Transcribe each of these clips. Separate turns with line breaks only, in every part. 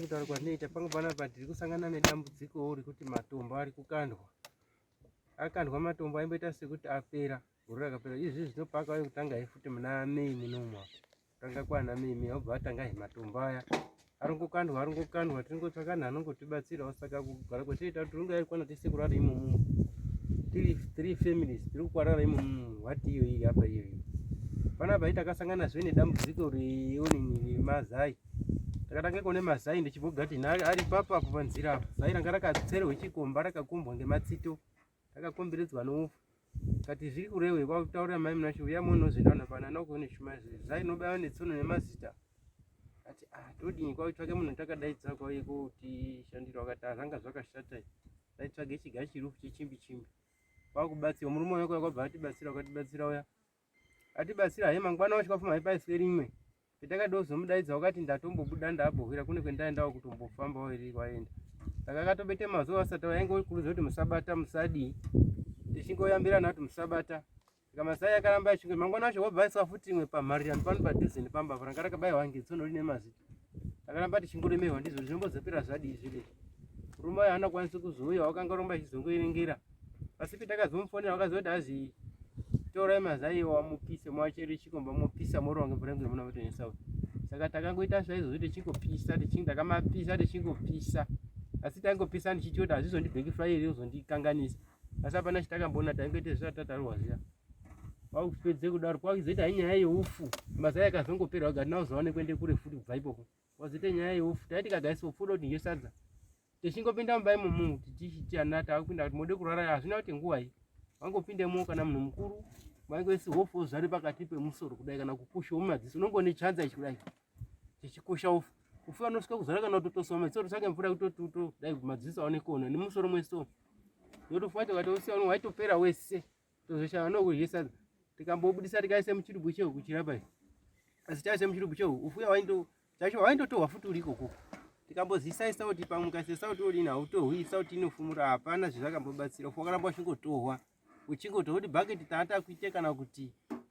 Kutaura kwandinoita pangu panapa tiri kusangana nedambudzikowo rekuti matombo ari kukandwa akandwa matombo aimboita sekuti apera gore rakapera izvi zvinopa akauya kutanga he futi muna mei munomwa tanga kwana mei mei obva atanga he matombo aya arongokandwa arongokandwa tiringotsvaka nhu anongotibatsirawo saka kugara kwatinoita kuti ringa yarikwana tese kurara imomo tiri three families tiri kukwarara imomo wati iyo iyi apa iyo iyo panapa itakasangana zve nedambudziko reonini remazai ndakatangeko nemazai ndichibva gadheni ari papo apo panzira apo zai ranga rakatserwa chikomba rakakombwa ngematsito rakakomberedzwa noufu kati zviri kurewe kwakutaurira mai munashe uya monozvendana pana nokuone shuma izvi zai nobaiwa netsono nemazita ati ah todii kwakutsvake munhu takadaidza kwauye kotishandira wakati azvanga ah, zvakashata taitsvage chiga chirufu chechimbi chimbi kwakubatsirwa murume wako yakwabva atibatsira ukatibatsira uya atibatsira he mangwana wacho kafuma haipaiswe rimwe petakada uzomudaidza wakati ndatombobuda ndabohwira kune kwendaendawo kutombofambawo iri kwaenda saka akatobete mazuva asati wainge urikuruza kuti musabata musadii tichingoyambirana kuti musabata saka masai akaramba achinge mangwana wacho wabva aiswa futi imwe pamharirano pano padhuze nepamba vranga rakabaiwa ngetsonori nemazita takaramba tichingoremerwa ndizvo zvinombozopera zvadii zvide murume wayo haana kwanisi kuzouya wakanga romba achizongoerengera asi petakazomufonera wakazoti hazi torai mazai wamupise mwachere chikomba mopisa morowa ngemvura yekuti muna matonesa uyu saka takangoita zvaizvozvi tichingopisa tichinge takamapisa tichingopisa asi taingopisa ndichiti kuti hazvizondibheki furayi iri uzondikanganisa asi hapana chitakamboona taingoita zvisati tatarwa zviya wakupedze kudaro kwakuzoita he nyaya yeufu mazai akazongopera wagati nauzowane kuende kure futi kubva ipopo wazoita nyaya yeufu taiti kagaiswa pfuda kuti ngesadza tichingopinda mumba imomu tichiti ana taakupinda kuti mode kurara hazvina kuti nguvai wangopindemo kana munhu mukuru vange sihofu ozvare pakati pemusoro kudai kana kukusha mumadziso unongone chanza ichi kudai chichikusha ufu ufu anosvika kuzara kana kutotosoma chisoro chake mvura kutotuto dai madziso aone kuona nemusoro mweso yotofuata ukatosiya uno waitopera wese Tozoshava nokudya sadza tikambobudisa tikaisa muchirubhu chehu kuchirapa izvi asi taisa muchirubhu chehu ufuya wainto chacho waintotohwa futi uri ikoko tikambozisaisa kuti pamwe ukasesa kuti uri inhautohwisa kuti inofumura hapana zvezvakambobatsira ufu wakaramba uchingotohwa uchingotohwa kuti bhaketi taata kuite kana kuti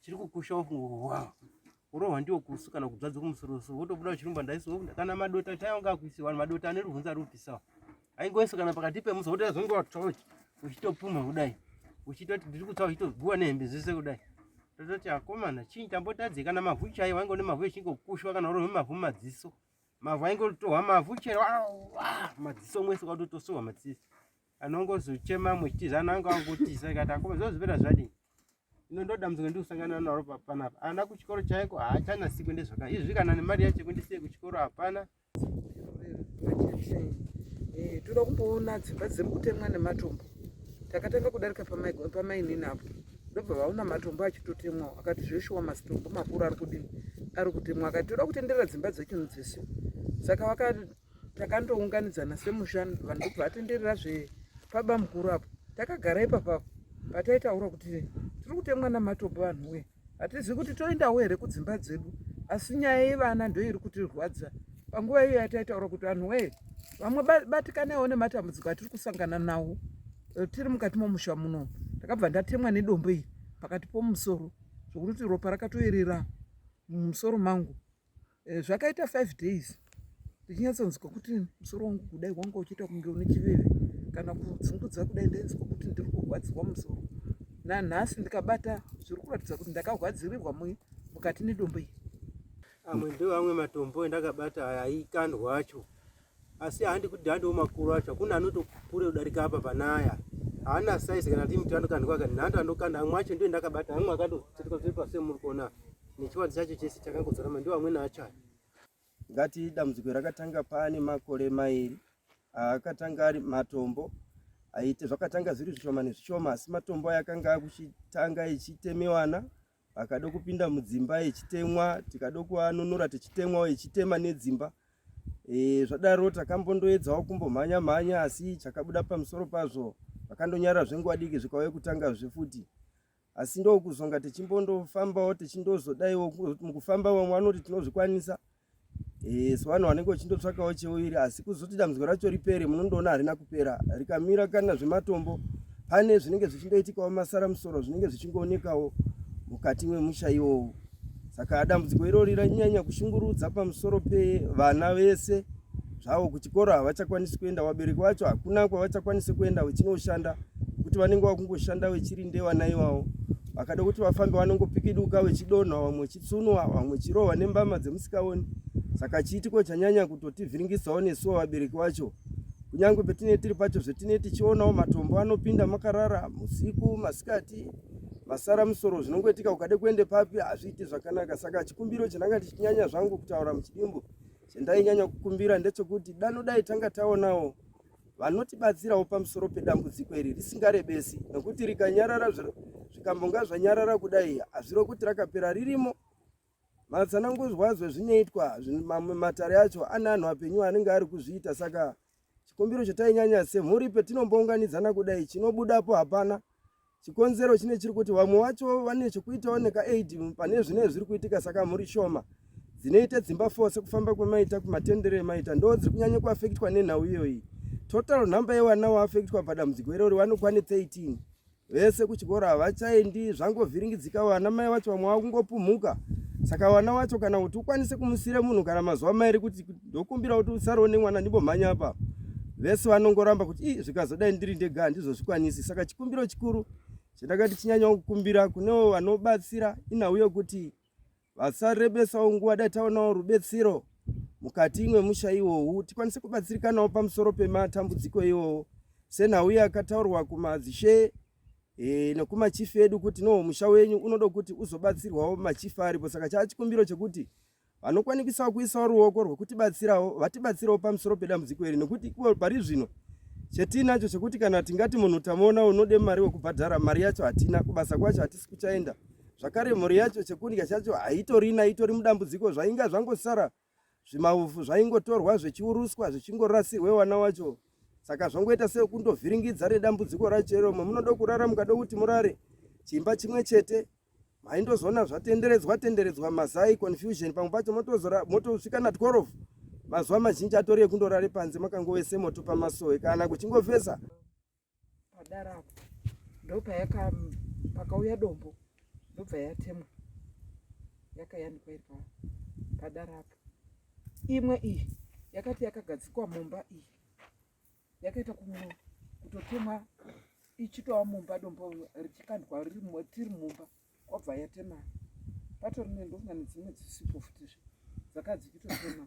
chiri kukusha wafunga urohwa ndiwo kusu kana kubzadza kumusoroso wotobuda uchirumba ndaiso kana madota chaiwo ngakuisiwa vanhu madota ane ruvhunza rupisawa aingoiso kana pakati pemusa wotoita zvonge watoch uchitopumha kudai uchitoti ndiri kutsa uchitoguwa nehembe zvese kudai tototi akomana chii tambotadze kana mavhu chaiwo ainge une mavhu echingokushwa kana urohwe mavhu madziso mavhu ainge ototohwa mavhu chero madziso mwese ukatotosohwa madziso anongozochema muchitiza ana anga angotisa ikati akoma zozvipera zvadii ino ndodambudziko ndikusangana naro papanapa ana kuchikoro chaiko haachanasi kuende zvaka izvi kana nemari yacho kundisiye kuchikoro hapana eh,
toda kumboona dzimba dziri kutemwa nematombo takatanga kudarika pamainini apo ndobva vaona matombo achitotemwawo akati zveshuwa mazitombo makuru ari kudini ari kutemwa akati toda kutenderera dzimba dzechinu dzese saka takandounganidzana semusha vanhu ndobva atenderera zve paba mukuru apo takagara ipapa pataitaura kuti tiri kutemwa namatopo vanhu wee hatizivi kuti toendawo here kudzimba dzedu asi nyaya yevana ndo iri kutirwadza panguva iyo yataitaura kuti vanhu wee vamwe batikanewo nematambudziko atiri kusangana nawo eh, tiri mukati momusha muno ndakabva ndatemwa nedombo iri pakati pomusoro zvokuti ropa rakatoerera mumusoro mangu Eh, zvakaita five days ndichinyatsonzwa kuti musoro wangu kudai wanga uchiita kunge une chiveve kana kudzungudza kudai ndainzwa kuti ndiri kurwadziwa musoro nanhasi ndikabata zviri kuratidza kuti ndakarwadzirirwa mukati nedombo iyi amwe ndo
amwe matombo endakabata aya aikandwa acho asi handi kuti handiwo makuru acho hakuna anotokure kudarika apa panaya haana size kana timuti anokandwa kani nhando anokanda amwe acho ndiyo ndakabata amwe akatotsirika zviri pasi muri kuona nechivanzi chacho chese chakangodzorama ndiwo amweni acho aya ngati dambudziko rakatanga paane makore mairi akatanga ari matombo aite zvakatanga zviri zvishoma nezvishoma asi matombo aya akanga akuchitanga ichitemewana akada kupinda mudzimba echitemwa tikada kuanunura tichitemwawo echitema nedzimba e, zvadaro takambondoedzawo kumbomhanya mhanya asi chakabuda pamusoro pazvo vakandonyara zvenguva diki zvikauye kutanga zvefuti asi
ndokuzonga tichimbondofambawo tichindozodaiwo mukufamba vamwe vanoti tinozvikwanisa Eh, so vanhu vanenge vachindotsvakawo cheuviri asi kuzoti dambudziko racho ripere munondoona harina kupera rikamira kana zvematombo pane zvinenge zvichindoitikawo masara musoro zvinenge zvichingoonekawo mukati mwemusha iwowo saka dambudziko irori ranyanya kushungurudza pamusoro pevana vese zvavo kuchikoro havachakwanisi kuenda vabereki vacho hakuna kwavachakwanisi kuenda vechinoshanda kuti vanenge vakungoshanda vechirinde vana iwawo vakada kuti vafambe vanongopikiduka vechidonha vamwe tsuno ava vamwe chirohwa nembama dzemusikaoni saka chiitiko chanyanya kutotivhiringisawo nesuwo vabereki vacho kunyange petine tiri pacho zvetine tichionawo matombo anopinda makarara musiku masikati masara musoro zvinongoitika ukade kuende papi hazviiti zvakanaka saka chikumbiro chandanga tichinyanya zvangu kutaura muchidimbu chandainyanya kukumbira ndechekuti dano dai tanga taonawo vanotibatsirawo pamusoro pedambudziko iri risingarebesi nokuti rikanyarara zvikambonga zvanyarara kudai hazviro kuti rakapera ririmo matsananguzwa zvezvinoitwa mamwe matare acho ane anhu apenyu anenge ari kuzviita saka chikumbiro chatainyanya semhuri petinombounganidzana kudai chinobudapo hapana chikonzero chine chiri kuti vamwe vacho vane chekuitawo nekaaid pane zvine zviri kuitika saka mhuri shoma dzinoita dzimba fo sekufamba kwemaita kumatendero emaita ndo dziri kunyanya kuafektwa nenhau iyoyi total number yevana waafektwa padambudziko irori vanokwane 13 vese kuchikoro havachaendi zvangovhiringidzika vana mai vacho vamwe vakungopumhuka saka vana wacho kana kuti ukwanise kumusire munhu kana mazuva mairi kuti ndokumbira kuti usarewo nemwana ndimbomhanya apa vese vanongoramba kuti ii zvikazodai ndiri ndega handizozvikwanisi saka chikumbiro chikuru chandakati chinyanyawo kukumbira kunewo vanobatsira inhau yokuti vasarebesawo nguva dai taonawo rubetsiro mukati imwe musha iwowu tikwanise kubatsirikanawo pamusoro pematambudziko iwowo senhau yakataurwa kumadzishe e, nekumachifi edu kuti noho musha wenyu unoda kuti uzobatsirwawo machifi aripo saka chaa chikumbiro chekuti vanokwanikisawo kuisawo ruoko rwekutibatsirawo vatibatsirawo pamusoro pedambudziko iri nekuti ivo pari zvino chetinacho chekuti kana tingati munhu tamuona unode mari wekubhadhara mari yacho hatina kubasa kwacho hatisi kuchaenda zvakare mhuri yacho chekundya chacho haitorina itori mudambudziko zvainga zvangosara zvimaufu zvaingotorwa zvechiuruswa zvichingorasirwe wana wacho saka zvongoita sekundovhiringidza nedambudziko racho iro mwe munoda kurara mukada kuti murare chimba chimwe chete maindozoona zvatenderedzwa tenderedzwa mazai confusion pamwe pacho motosvika na 12 mazuva mazhinji atori ekundorare panze makangovese moto pamasowe kana kuchingovesa
padarapo ndopayaka pakauya dombo ndobva yatemwa yakayanikwa iri padarapo imwe iyi yakati yakagadzikwa mumba iyi yakaita kumuro kutotemwa ichitova mumba dombo richikandwa tiri mumba kwabva yatema patori nendovana nedzimwe dzisipo futizve dzakadzikitotemwa